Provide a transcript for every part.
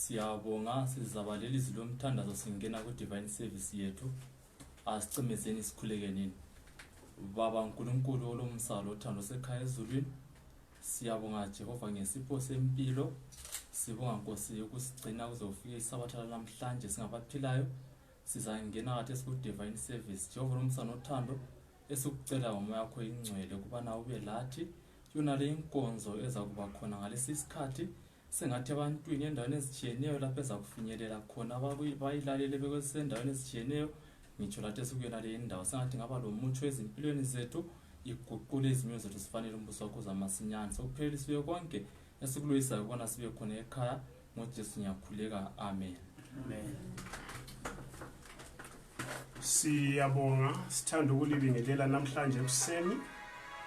siyabonga sizabalelisi lomthandazo singena ku-divine service yethu asicimezeni sikhulekenini baba nkulunkulu olomsalo othando sekhaya ezulwini siyabonga jehova ngesipho sempilo sibonga nkosi ukusigcina kuze kufike isabatha lanamhlanje singabaphilayo sizangena kathi esiku-divine service jehova lomsano othando esikucela ngomoya yakho ingcwele ukubana ube lathi yona le inkonzo ezakuba khona ngalesi isikhathi sengathi ebantwini endaweni ezitshiyeneyo lapho ezakufinyelela khona bayilalele bekwesendaweni ezitshiyeneyo ngitsho lathi esikuyona le indawo sengathi ngaba lomutsho ezimpilweni zethu iguqule izimyo zethu sifanele umbuso wakho zamasinyane sokuphelelisiwe konke esikuloyisayo kubona sibe khona ekhaya ngojesu ngiyakhuleka amen amen siyabonga sithanda ukulibingelela namhlanje ekuseni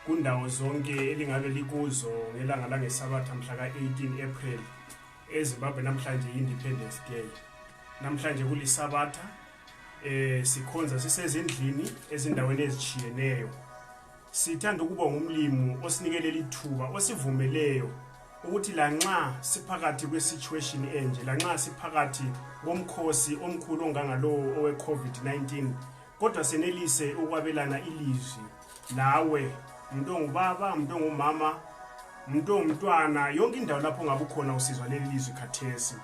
kundawo zonke elingabe likuzo ngelanga langesabatha mhla ka-18 april ezimbabwe namhlanje i-independence day namhlanje kulisabatha um sikhonza sisezindlini ezindaweni ezishiyeneyo Sithanda ukuba ngumlimu osinikele ithuba osivumeleyo ukuthi lanxa siphakathi kwesituation enje lanxa siphakathi komkhosi omkhulu ongangalowo owe-covid-19 kodwa senelise ukwabelana ilizwi lawe mntu ongubaba mntu ongumama mntu ongumntwana yonke indawo lapho ungabe ukhona usizwa leli lizwi khathesi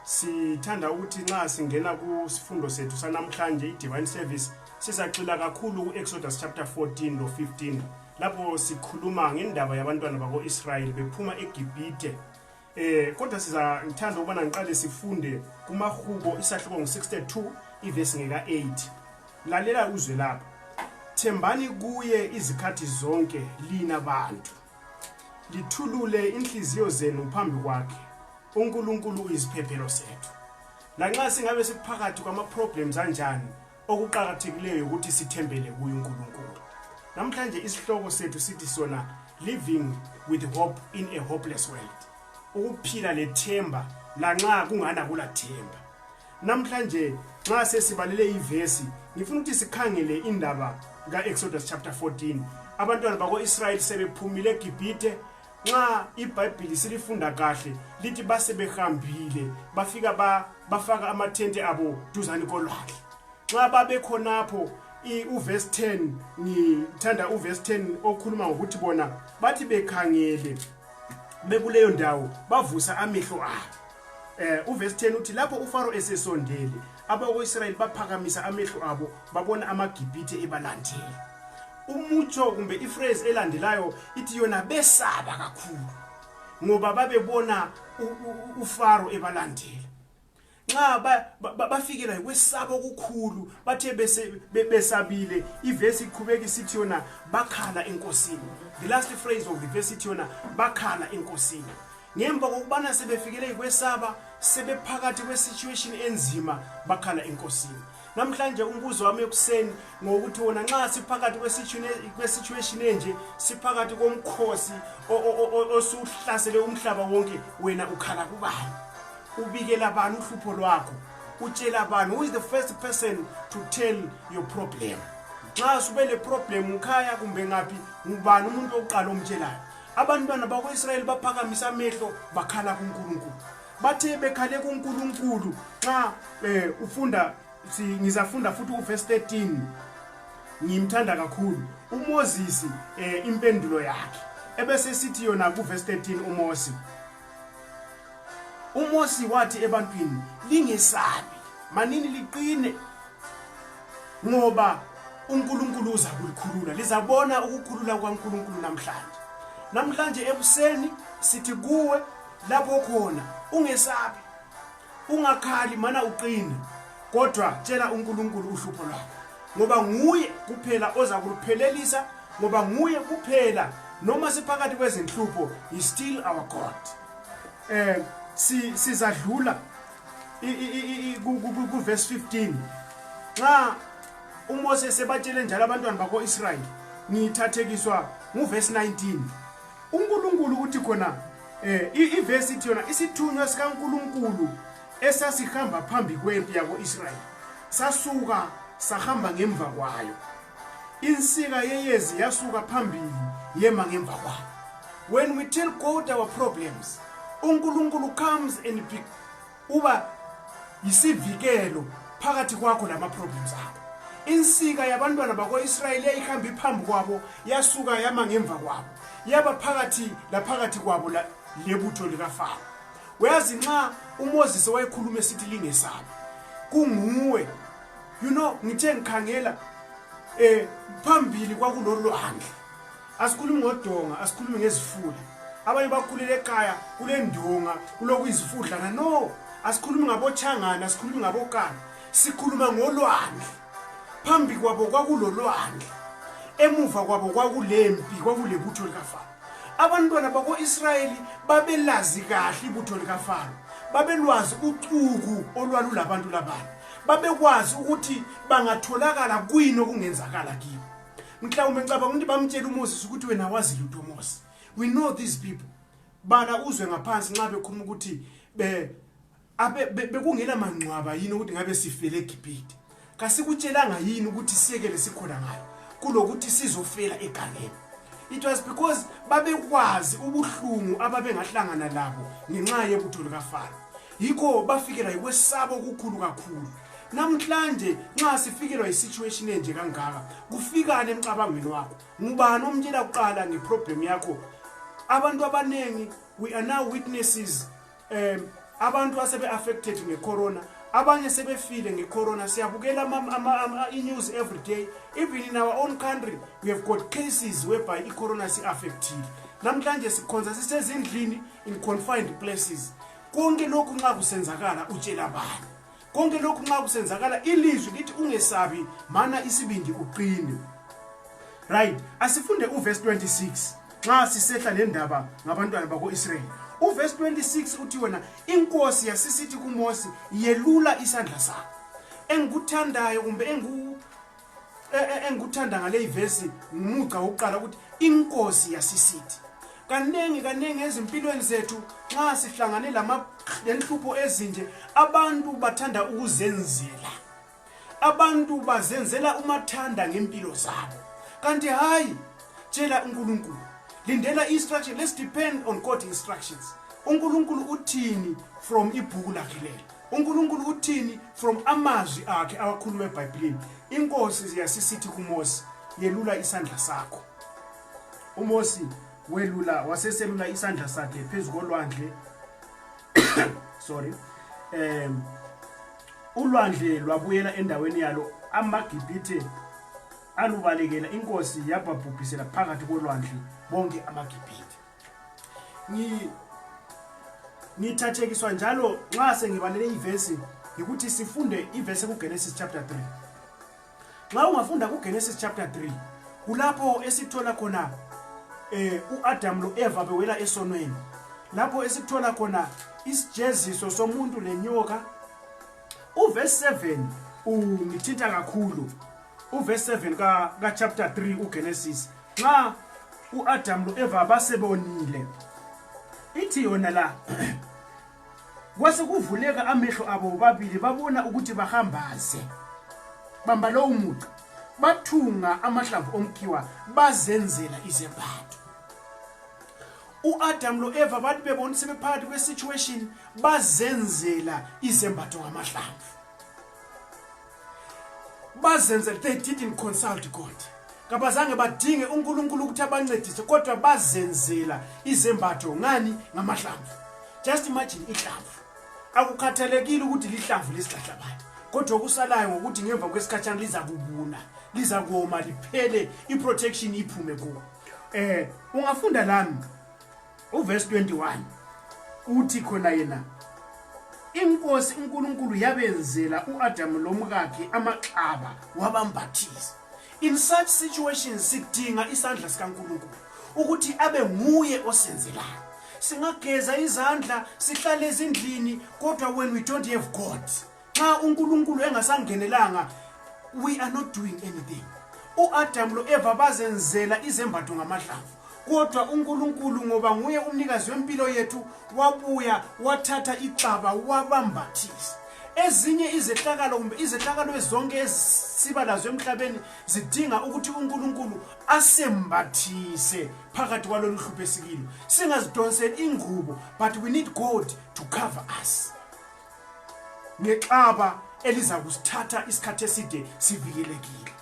sithanda ukuthi nxa singena kusifundo sethu sanamhlanje i-divine service Sizagxila kakhulu ku-Exodus chapter 14 lo 15 lapho sikhuluma ngendaba yabantwana bako-Israyeli bephuma eGibhithe eh kodwa siza ngithanda ukubona ngiqale sifunde kumahubo isahluko ngo62 ivesi ngeka 8 lalela uzwe lapha thembani kuye izikhathi zonke lina bantu lithulule inhliziyo zenu phambi kwakhe uNkulunkulu uyisiphephelo sethu lanxa singabe siphakathi kwama problems anjani okuqakathekileyo ukuthi sithembele kuye unkulunkulu namhlanje isihloko sethu sithi sona living with hope in a hopeless world ukuphila lethemba lanxa kungana kula themba namhlanje nxa sesibalele ivesi ngifuna ukuthi sikhangele indaba ka-exodus chapter 14 abantwana bako-israyeli sebephumile egibhithe nxa ibhayibhili silifunda kahle lithi basebehambile bafika ba, bafaka amathente abo duzane kolwandle nxa babekhonapho uvesi 10 ngithanda uvesi 10 okhuluma ngokuthi bona bathi bekhangele bekuleyo ndawo bavusa amehlo abo eh uvesi 10 uthi lapho ufaro esesondele abako-israyeli baphakamisa amehlo abo babona amagibhithe ebalandile umutsho kumbe ifrase elandelayo ithi yona besaba kakhulu ngoba babebona ufaro ebalandile nxa bafikela yikwesaba okukhulu bathe besabile ivesi iqhubeka isithi yona bakhala enkosini the last phrase of the verse ithi yona bakhala enkosini ngemva kokubana sebefikele yikwesaba sebephakathi kwesituation enzima bakhala enkosini namhlanje umbuzo wami ekuseni ngokuthi wona nxa siphakathi kwesituation enje siphakathi komkhosi osuhlasele umhlaba wonke wena ukhala kubani ubikela bani uhlupho lwakho utshela bani who is the first person to tell your problem nxa sube le problem ngikhaya kumbe ngaphi ngubani umuntu wokuqala omtshelayo abantwana bakwa-israyeli baphakamisa amehlo bakhala kunkulunkulu bathe bekhale kunkulunkulu xa um ufunda ngizafunda futhi uvesi 13 ngimthanda kakhulu umozisi um impendulo yakhe ebesesithi yona kuvesi 13 umosi uMosi wathi ebantwini lingesabi manini liqine ngoba uNkulunkulu uza kulikhulula lizabona ukukhulula kwaNkulunkulu namhlanje namhlanje ebuseni sithi kuwe lapho khona ungesabi ungakhali mana uqine kodwa tshela uNkulunkulu uhlupho lwakho ngoba nguye kuphela oza kuluphelelisa ngoba nguye kuphela noma siphakathi kwezinhlupho is still our god eh si sizadlula ku verse 15 nxa uMose sebatshele njalo abantwana bakho Israel ngithathekiswa ngu verse 19 uNkulunkulu uthi khona eh ivesi ithi yona isithunywa sikaNkuluNkulu esasihamba phambi kwempi yakoIsrayeli sasuka sahamba ngemva kwayo insika yeyezi yasuka phambili yema ngemva kwayo when we tell God our problems uNkulunkulu comes and uba yisivikelo phakathi kwakho lama-problems akho insika yabantwana bako-israyeli yayihamba iphambi kwabo yasuka yama ngemva kwabo yaba phakathi laphakathi kwabo lebutho likafaro uyazi nxa umoses wayekhuluma esithi lingesabi kunguwe you know ngithe ngikhangela um phambili kwakulolwandle asikhulumi ngodonga asikhulumi ngezifula abanye bakhulele ekhaya kulendonga kulokuyizifudlana no asikhulumi ngabochangana asikhulumi ngabokana sikhuluma ngolwandle phambi kwabo kwakulolwandle emuva kwabo kwakulempi kwakulebutho likafaro abantwana bako-israyeli babelazi kahle ibutho likafaro babelwazi ucuku olwalulabantu labantu babekwazi ukuthi bangatholakala kwini okungenzakala kibo mhlawumbe ngicabanga ukuthi bamtshela uMoses ukuthi wena wazi lutho Moses we know these people bala uzwe ngaphansi nxa bekhuluma ukuthi be abe bekungela mangcwaba yini ukuthi ngabe sifele eGibhithe kasikutshelanga yini ukuthi siyekele sikhona ngayo kulokuthi sizofela egangeni it was because babekwazi ubuhlungu ababengahlangana labo ngenxa yebutho likafana yikho bafikelwa yikwesaba okukhulu kakhulu namhlanje nxa sifikelwa yisituation enje kangaka kufikane emcabangweni wakho ngubani omtshela kuqala ngeproblem yakho abantu abaningi we are now witnesses um abantu asebe-affected ngecorona abanye sebefile ngecorona siyabukela i-news every day even in our own country we have got cases whereby icorona si-affectile namhlanje sikhonza sisezindlini in confined places konke lokhu nxa kusenzakala utshela bani konke lokhu nxa kusenzakala ilizwi lithi ungesabi mana isibindi uqine right asifunde uverse 26 nxa sisehla lendaba ngabantwana bako-israyeli uverse 26 uthi wena inkosi yasisithi kumosi yelula isandla sakho engikuthandayo kumbe engiku e, e, engikuthanda ngale ivesi ngumugca wokuqala ukuthi inkosi yasisithi kaningi kaningi ezimpilweni zethu nxa sihlangane lenhlupho ezinje abantu bathanda ukuzenzela abantu bazenzela umathanda ngempilo zabo kanti hayi tshela unkulunkulu lindela instruction let's depend on god instructions unkulunkulu uthini from ibhuku lakhe lelo uNkulunkulu uthini from amazwi akhe awakhuluma eBhayibhelini inkosi ziyasisithi kuMose yelula isandla sakho uMose welula waseselula isandla sakhe phezulu kolwandle sorry um ulwandle lwabuyela endaweni yalo amagibhithe alubalekela inkosi yababhubhisela phakathi kolwandle bonke amagibhithe ngithathekiswa njalo nxa sengibalele ivesi yikuthi sifunde ivesi kugenesis chapter 3 nxa ungafunda kugenesis chapter 3 kulapho esithola khona eh uAdam loEva bewela esonweni lapho esithola khona isijeziso somuntu lenyoka uverse 7 ungithinta kakhulu uverse 7 ka, ka chapter 3 ugenesis nxa uadam loeva basebonile ithi yona la kwasekuvuleka amehlo abo babili babona ukuthi bahambaze bamba lowo muca bathunga amahlamvu omkhiwa bazenzela izembatho uAdam loEva bathi bebona sebephakathi kwesituation bazenzela izembatho ngamahlamvu bazenzele they didn't consult god kabazange badinge unkulunkulu ukuthi abancedise kodwa bazenzela izembatho ngani ngamahlamvu just imagine ihlamvu akukhathalekile ukuthi lihlamvu lesihlahlabani kodwa okusalayo ngokuthi ngemva kwesikhatshana liza kubuna liza koma liphele i-protection iphume kuwo um ungafunda lami uverse 21 uthi khona yena inkosi unkulunkulu yabenzela u-adamu lomkakhe amaxaba wabambathisa in such situations sidinga isandla sikankulunkulu ukuthi abe nguye osenzelayo singageza izandla sihlale ezindlini kodwa when we don't have god xa unkulunkulu engasangenelanga we are not doing anything uadam loeva bazenzela izembatho ngamadlamvu kodwa unkulunkulu ngoba nguye umnikazi wempilo yethu wabuya wathatha ixaba wabambathisa ezinye izehlakalo kumbe izehlakalo ezonke ezisiba lazo emhlabeni zidinga ukuthi unkulunkulu asembathise phakathi kwalolu hlupho esikilo singazidonseli ingubo but we need god to cover us ngexaba eliza kusithatha isikhathi eside sivikelekile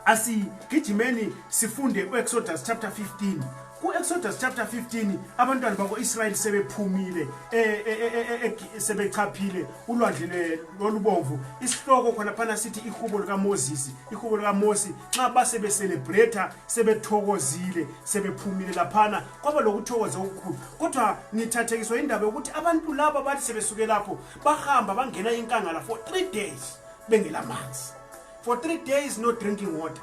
asigijimeni sifunde u-exodus chapter 15 ku-exodus chapter 15 abantwana bako-israyeli sebephumile e, e, e, sebechaphile ulwandle lolubomvu isihloko khonaphana sithi ihubo likamosisi ihubo likamosi nxa basebeselebretha sebethokozile sebephumile laphana kwaba lokuthokoza okukhulu kodwa ngithathekiswa indaba yokuthi abantu laba bathi sebesuke lapho bahamba bangena inkangala for three days bengela manzi for three days no drinking water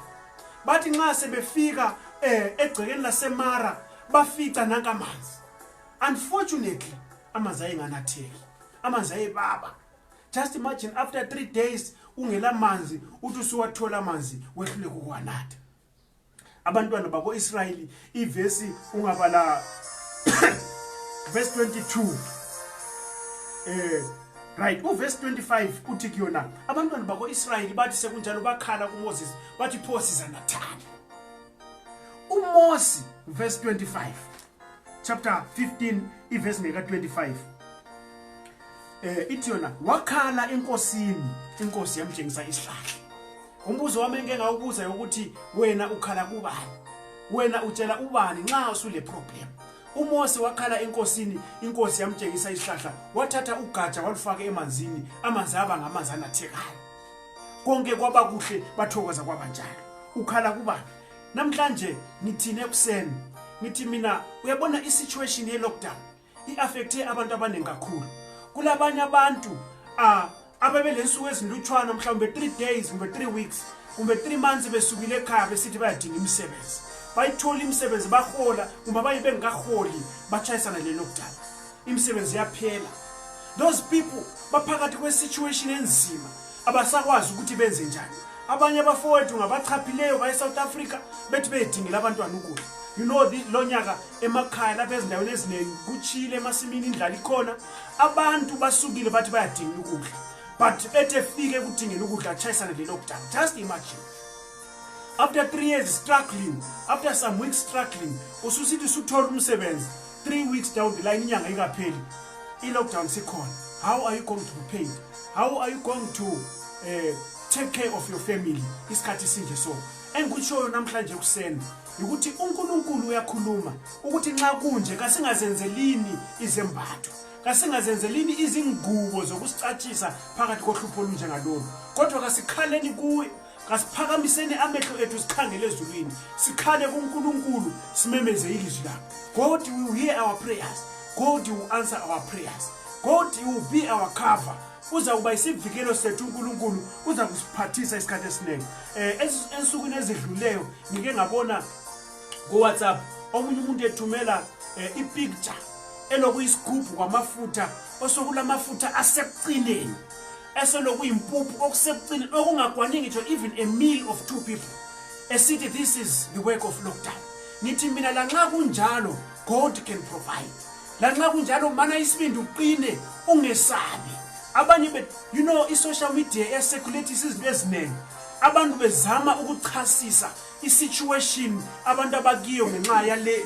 bathi nxa sebefika um eh, egcekeni lasemara bafica nanka amanzi unfortunately amanzi ayenganatheki amanzi ayebaba just imagine after three days ungela manzi uthi usuwathola amanzi wehluleka ukwanatha abantwana bako-israyeli ivesi ungabala vesi 22 um eh, right uvesi 25 uthi kuyona abantwana bako-israyeli bathi sekunjalo bakhala kumoses bathi pho sizanathani umosi vesi 25 chapter 15 iverse ngeka 25 eh ithi yona wakhala enkosini inkosi yamtshengisa isihlahla umbuzo wami engeke ngawubuza ukuthi wena ukhala kubani wena utshela ubani nxa usule problem uMose wakhala enkosini inkosi yamtshengisa isihlahla wathatha ugatsha walufaka emanzini amanzi aba ngamanzi anathekayo konke kwaba kuhle bathokoza kwabanjalo ukhala kubani namhlanje ngithini ekuseni ngithi mina uyabona i-situation ye-lockdown i-affekthe abantu abaningi kakhulu kulabanye abantu um ababe le nsuku ezilutshwana mhlawumbe three days kumbe three weeks kumbe three months besukile ekhaya besithi bayadinga imisebenzi bayithola imisebenzi bahola kumbe abaye bengikaholi batshayisana le-lockdown imisebenzi yaphela those people baphakathi kwesituation enzima abasakwazi ukuthi benze njani abanye abafowethu ngabachaphileyo bayesouth africa bethi beyedingela abantwana ukudla you know lo nyaka emakhaya lapha ezindaweni eziningi kutshile emasimini indlala ikhona abantu basukile bathi bayadingela ukudla but ethi efike ekudingela ukudla atshayisane lelokudala just imagine after three years struggling after some weeks struggling ususithi usuthola umsebenzi three weeks down the line inyanga ikapheli i-lockdown sikhona how are you going to be paid how are you going to uh, take care of your family isikhathi sinje so engikutshoyo namhlanje ekuseni yikuthi unkulunkulu uyakhuluma ukuthi nxa kunje kasingazenzelini izembatho kasingazenzelini izingubo zokusicatshisa phakathi kohlupho olunjengalolu kodwa kasikhaleni kuye kasiphakamiseni amehlo ethu sikhangele ezulwini sikhale kunkulunkulu simemeze ilizwi lakho god will hear our prayers god will answer our prayers god will be our cover uza kuba isivikelo sethu unkulunkulu uza kusiphathisa isikhathi esiningi um ensukwini ezidluleyo ngike ngabona kowhatsapp omunye umuntu ethumela um eh, ipicture elokuyisigubhu kwamafutha osokulamafutha asekucineni eselokuyimpuphu okusekucini okungakwani ngitsho even a meal of two people esithi this is the work of lockdown ngithi mina lanxa kunjalo god can provide lanxa kunjalo mana isibindi uqine ungesabi abanye be you know i-social media esekhulethisa izinto eziningi abantu bezama ukuchasisa isituation abantu abakiyo ngenxa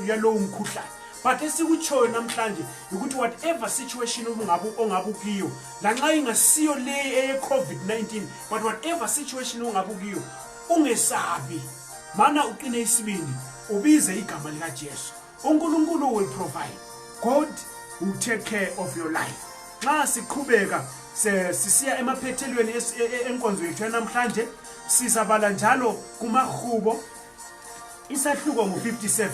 yalowo mkhuhlane but esikutshoyo namhlanje yikuthi whatever situation ubungabe ongabe ukiyo lanxa ingasiyo leyi eye-covid-19 but whatever situation ongabe ukiyo ungesabi mana uqine isibindi ubize igama likajesu uNkulunkulu will provide God will take care of your life nxa siqhubeka sisiya emaphethelweni e, e, enkonzo yethu yanamhlanje sizabala njalo kumahubo isahluko ngu-57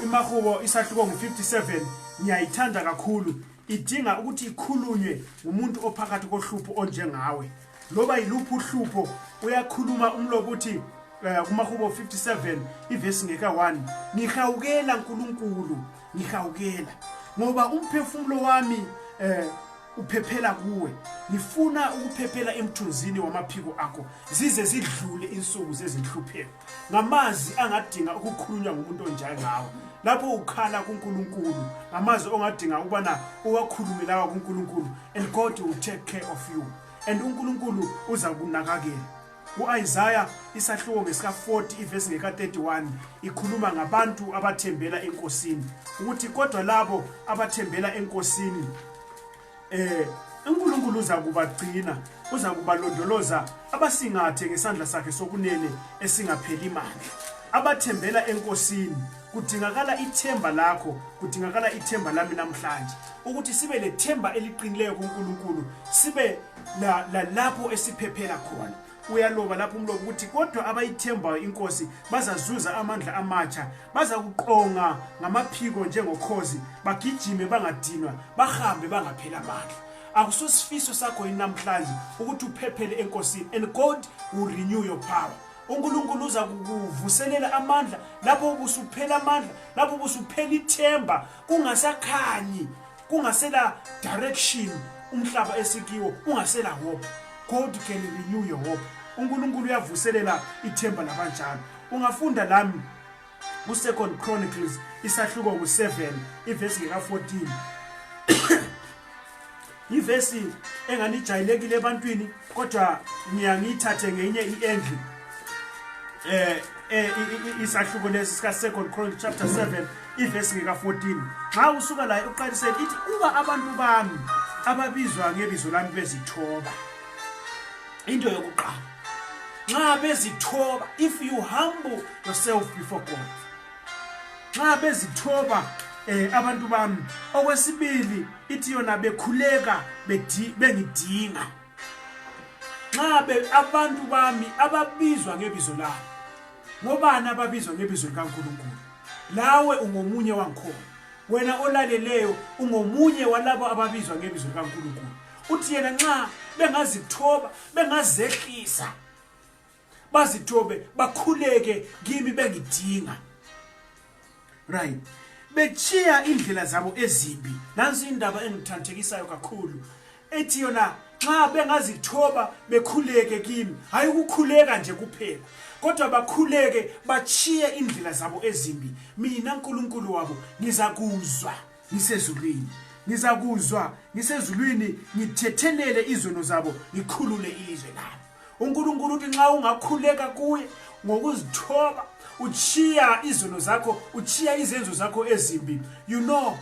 imahubo isahluko ngu-57 ngiyayithanda kakhulu idinga ukuthi ikhulunywe ngumuntu ophakathi kohlupho onjengawe loba yiluphi uhlupho uyakhuluma umlobo uthi um kumahubo 57 ivesi ngeka-1 ngihawukela nkulunkulu ngihawukela ngoba umphefumulo wami um uphephela kuwe ngifuna ukuphephela emthunzini wamaphiko akho zize zidlule insuku zezinhlupheko ngamazwi angadinga ukukhulunywa ngumuntu onjengawo lapho ukhala kuNkulunkulu ngamazwi ongadinga ukubana uwakhulume lawa kuNkulunkulu and God will take care of you and uNkulunkulu uza kunakakela uIsaiah isahluko ngesika 40 ivesi ngeka 31 ikhuluma ngabantu abathembela enkosini ukuthi kodwa labo abathembela enkosini Eh uNkulunkulu uza kubagcina, uza kubalondoloza abasingathe ngesandla sakhe sokunene esingapheli mandla. Abathembela eNkosini kudingakala ithemba lakho, kudingakala ithemba lami namhlanje ukuthi sibe lethemba eliqinileyo kuNkulunkulu, sibe la, la lapho esiphephela khona. uyaloba lapho umlobo ukuthi kodwa abayithembayo inkosi bazazuza amandla amatsha bazakuqonga ngamaphiko njengokhozi bagijime bangadinwa bahambe bangaphela amandla akusosifiso sakho yini namhlanje ukuthi uphephele enkosini and god will renew your power unkulunkulu uza kukuvuselela amandla lapho ubusuphela amandla lapho ubusuphela ithemba kungasakhanyi kungasela direction umhlaba esikiwo ungasela hope god can renew your hope unkulunkulu uyavuselela ithemba labanjalo ungafunda lami kusecond chronicles isahluko ngu-7 ivesi ngeka-14 yivesi enganijayelekile ebantwini kodwa ngiya ngiyithathe ngenye i-endlu eh eh isahluko lesi sika second chronicle chapter 7 ivesi ngeka 14 nxa usuka layo uqalisele ithi uba abantu bami ababizwa ngebizo lami bezithoba into yokuqala nxa bezithoba if you humble yourself before god nxa bezithoba eh abantu bami okwesibili ithi yona bekhuleka bengidinga nxa be abantu bami ababizwa ngebizo lami ngobani ababizwa ngebizo likaNkulunkulu lawe ungomunye wangikhona wena olaleleyo ungomunye walabo ababizwa ngebizo likaNkulunkulu uthi yena nxa bengazithoba bengazehlisa bazithobe bakhuleke kimi bengidinga right bechiya indlela zabo ezimbi nansi indaba engithanthekisayo kakhulu ethi yona nxa bengazithoba bekhuleke kimi hayi ukukhuleka nje kuphela kodwa bakhuleke bachiye indlela zabo ezimbi mina nkulunkulu wabo ngizakuzwa ngisezulwini ngizakuzwa ngisezulwini ngithethelele izono zabo ngikhulule ilizwe labo uNkulunkulu uthi nxa ungakhuleka kuye ngokuzithoba uchiya izono zakho uchiya izenzo zakho ezimbi you know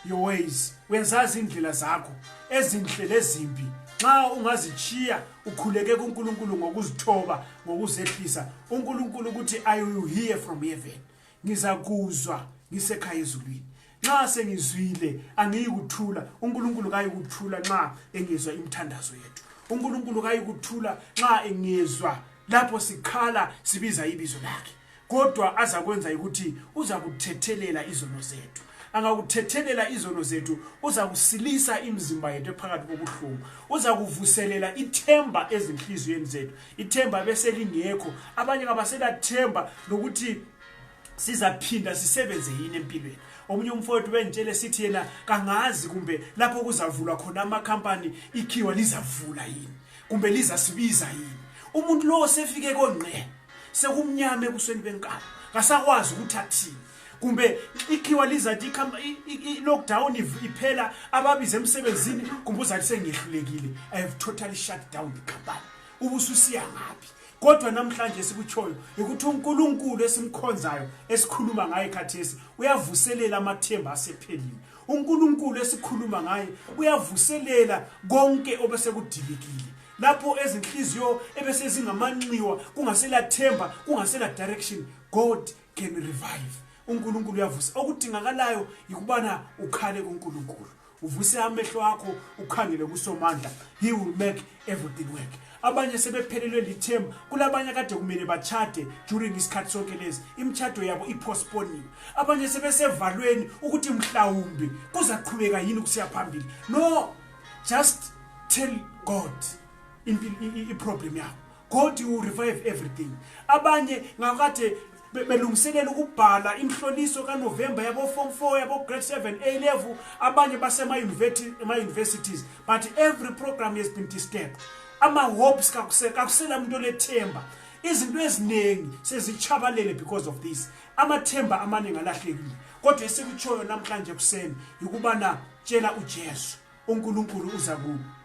your ways wenzazi indlela zakho ezinhle lezimbi nxa ungazichiya ukhuleke kuNkulunkulu ngokuzithoba ngokuzehlisa uNkulunkulu ukuthi i will hear from heaven ngizakuzwa ngisekhaya ezulwini nxa sengizwile angiyikuthula unkulunkulu kayikuthula nxa engizwa imithandazo yethu unkulunkulu kayikuthula nxa engizwa lapho sikhala sibiza ibizo lakhe kodwa azakwenza ukuthi uza kuthethelela izono zethu angakuthethelela izono zethu uza kusilisa imizimba yethu ephakathi kobuhlungu uza kuvuselela ithemba ezinhliziyweni zethu ithemba beselingekho abanye kabaselathemba lokuthi sizaphinda sisebenze yini empilweni omunye umfowethu bengitshele sithi yena kangazi kumbe lapho kuzavulwa khona amakhampani ikhiwa lizavula yini kumbe lizasibiza yini umuntu lowo sefike kongqe sekumnyama ebusweni benkalo kasakwazi ukuthi athini kumbe ikhiwa lizathi i-lockdown iphela ababize emsebenzini kumbe uzathi sengehlulekile i have totally shut down the company ubususiya ngaphi kodwa namhlanje esikutshoyo yikuthi uNkulunkulu esimkhonzayo esikhuluma ngaye khathesi uyavuselela amathemba asephelile uNkulunkulu esikhuluma ngaye uyavuselela konke obesekudilikile lapho ezinhliziyo ebesezingamanxiwa kungasela themba kungasela direction god can revive unkulunkulu uyavusa okudingakalayo yikubana ukhale kunkulunkulu uvuse amehlo akho ukhangele kusomandla he will make everything work abanye sebephelelwe lithemba kulabanye kade kumele bachade during isikhathi sonke lezi imitshato yabo ipostponiwe abanye sebesevalweni ukuthi mhlawumbi kuzaqhubeka yini kusiya phambili no just tell god iproblem yakho god will revive everything abanye ngakade belungiselela ukubhala imhloliso kanovemba yabo-form four yabo-grade seven a level abanye basema-universities but every program has been disturbed ama-hopes kakusela muntu olethemba izinto eziningi sezitshabalele because of this amathemba amaningi alahlekile kodwa esikutshoyo namhlanje ekuseni yikubana tshela ujesu uNkulunkulu uza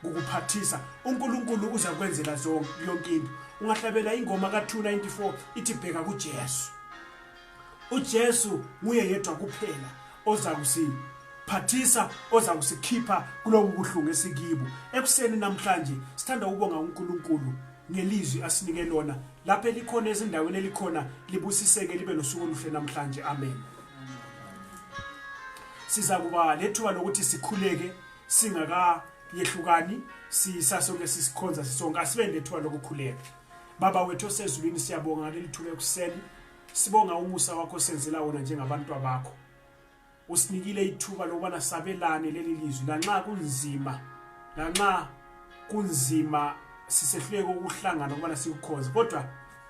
kukuphathisa uNkulunkulu uza kwenzela zonke yonke into ungahlabela ingoma ka294 ithi bheka kuJesu uJesu nguye yedwa kuphela oza kusini phathisa oza kusikhipha kulobu buhlungu esikibo ekuseni namhlanje sithanda ukubonga uNkulunkulu ngelizwi asinike lona lapho elikhona ezindaweni elikhona libusiseke libe nosuku oluhle namhlanje amen sizakuba lethuba lokuthi sikhuleke singakayehlukani sisasoke sisikhonza sisonke asibe lethuba lokukhuleka baba wethu osezulwini siyabonga ngaleli thuba ekuseni sibonga umusa wakho senzela wona njengabantu bakho usinikile ithuba lokubana sabelane leli lizwi lanxa kunzima lanxa kunzima sisehluleke ukuhlangana ukubana sikukhonze kodwa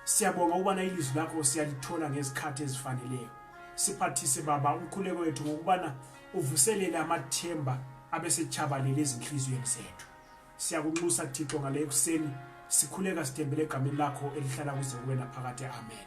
siyabonga ukubana ilizwi lakho siyalithola ngezikhathi ezifaneleyo siphathise baba umkhuleko wethu ngokubana uvuselele amathemba abesetshabalele ezinhliziyweni zethu siyakunxusa thixo ngale ekuseni sikhuleka sithembele egameni lakho elihlala kuze kuwena phakathi amen